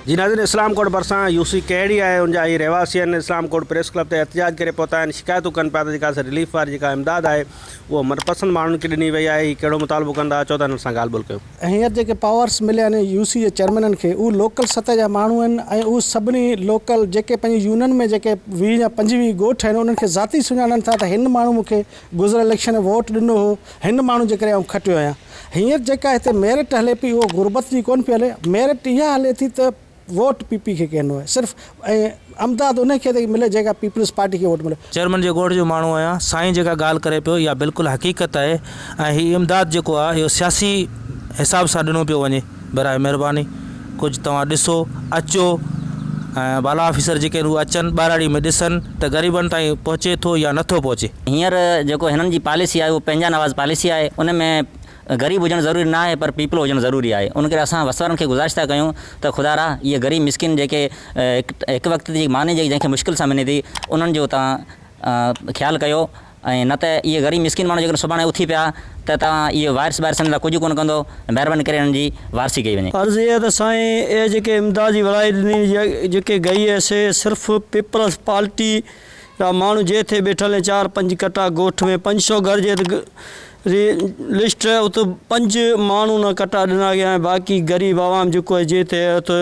جي ناظرين اسلام ڪوٽ ڀرسان يو سي ڪهڙي آهي ان جا اهي رهواسي آهن اسلام ڪوٽ پريس ڪلب تي احتجاج ڪري پهتا آهن شڪايتون ڪن پيا ته جيڪا اسان رليف واري جيڪا امداد آهي اهو من پسند ماڻهن کي ڏني وئي آهي هي ڪهڙو مطالبو ڪن ٿا اچو ته هنن سان ڳالهه ٻولهه ڪيون. هينئر جيڪي پاورس مليا آهن يو سي جي چيئرمينن کي اهي لوڪل سطح جا ماڻهو آهن ۽ اهي سڀني لوڪل جيڪي پنهنجي يونين ۾ جيڪي ويهه يا پنجويهه ڳوٺ آهن انهن کي ذاتي سڃاڻن ٿا ته هن ماڻهو مون کي گذريل اليڪشن ۾ ووٽ ڏنو هو، هن ماڻهو جي ڪري آئون کٽيو آهيان. هينئر جيڪا هتي ميرٽ هلي پئي اهو غربت جي ڪونه پئي هلي، ميرٽ اها هلي ٿي ته ووٽ پي پي کي ڪين آهي صرف ۽ امداد انهي کي ٿي ملي جيڪا پيپلز پارٽي کي ووٽ ملي. چيئرمن جي ڳوٺ جو ماڻهو آهيان، سائين جيڪا ڳالهه ڪري پيو اها بلڪل حقيقت آهي ۽ هي امداد جيڪو آهي اهو سياسي حساب سان ڏنو پيو وڃي. براء مھرباني ڪجھ توھان ڏسو اچو ۽ بالا آفيسر جيڪي آھن اھي اچن ٻھراڙي ۾ ڏسن ته غريبن تائين پھچي ٿو يا نٿو پھچي. ھينئر جيڪو ھنن جي پاليسي آھي اھا پنھنجا نواز پاليسي آھي ان ۾ غريب ھجڻ ضروري نه آھي پر پيپلو ھجڻ ضروري آھي ان ڪري اسان وسوارن کي گذارش ٿا ڪيون ته خدا را اھي غريب مسڪين جيڪي ھڪ وقت جي ماني جنھن کي مشڪل سان ملي ٿي انھن جو توھان خيال ڪيو ۽ نه ته اهي غريب مسڪين ماڻهو جيڪڏهن سڀاڻي اٿي پيا ته توهان اهي وائرس ٻائرس سندن لاء ڪجهه ڪونه ڪندو مهرباني ڪري انهن جي وارثي ڪئي وڃي. عرض اها آهي ته سائين اهي جيڪي امداد جي ورايت ڏني جيڪي گئي هي سي صرف پيپلز پارٽي جا ماڻهو جي اٿي ٻيٺل هي چار پنج ڪٽا ڳوٺ ۾ پنج سو گهر جي ري لسٽ ات پنج ماڻهو نه ڪٽا ڏنا گيا ۽ باقي غريب عوام جيڪو جي اٿي اٿ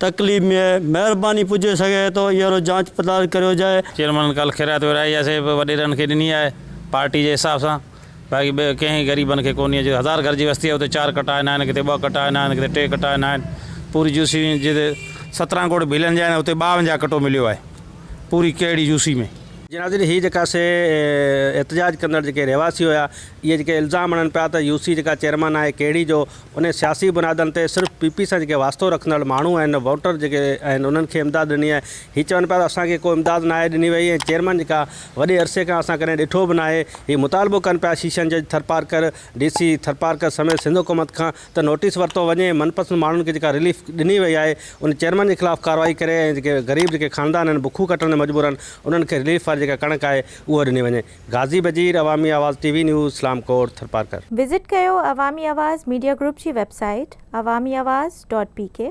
تڪليف ۾ مهرباني پڄي سگهي ٿو ايرو جانچ پڙتال ڪريو جائي. چيئرمن ڪالهه خيرات ورهائي يا سي به وڏيرن کي ڏني آهي پارٽي جي حساب سان باقي ٻئي ڪنهن غريبن کي ڪونهي جي هزار گهر جي وستي آهي اتي چار ڪٽا ناهن ڪٿي ٻه ڪٽا ناهن ڪٿي ٽي ڪٽا ناهن پوري يو سي ۾ جتي سترهن ڳوٺ ڀيلن جا آهن اتي ٻاونجاهه ڪٽو مليو آهي پوري ڪهڙي يو سي ۾. جي ناظرين هي جيڪا سي احتجاج ڪندڙ جيڪي رهواسي هيا اهي جيڪي الزام هڻن پيا ته يو سي جيڪا چيئرمن آهي ڪهڙي جو انهن سياسي بنيادن تي صرف پي پي سان جيڪي واسطو رکندڙ ماڻهو آهن، ووٽر جيڪي آهن انهن کي امداد ڏني آهي. هي چون پيا ته اسان کي ڪو امداد ناهي ڏني وئي ۽ چيئرمين جيڪا وڏي عرصي کان اسان ڪڏهن ڏٺو به ناهي. هي مطالبو ڪن پيا شيشن جج ٿرپارڪر، ڊي سي ٿرپارڪر سميت سنڌ حڪومت کان ته نوٽيس ورتو وڃي ۽ من پسند ماڻهن کي جيڪا رليف ڏني وئي آهي ان چيئرمين جي خلاف ڪارروائي ڪري ۽ جيڪي غريب جيڪي خاندان آهن بکون ڪٽڻ ۾ مجبور آهن انهن کي رليف واري جيڪا ڪڻڪ آهي اهو ڏني وڃي. غازي Wazir Awami Awaz T V news Islamkot Tharparkar. Visit ڪيو عوامي آواز ميڊيا گروپ جي website Awami Awaz dot P ڪي.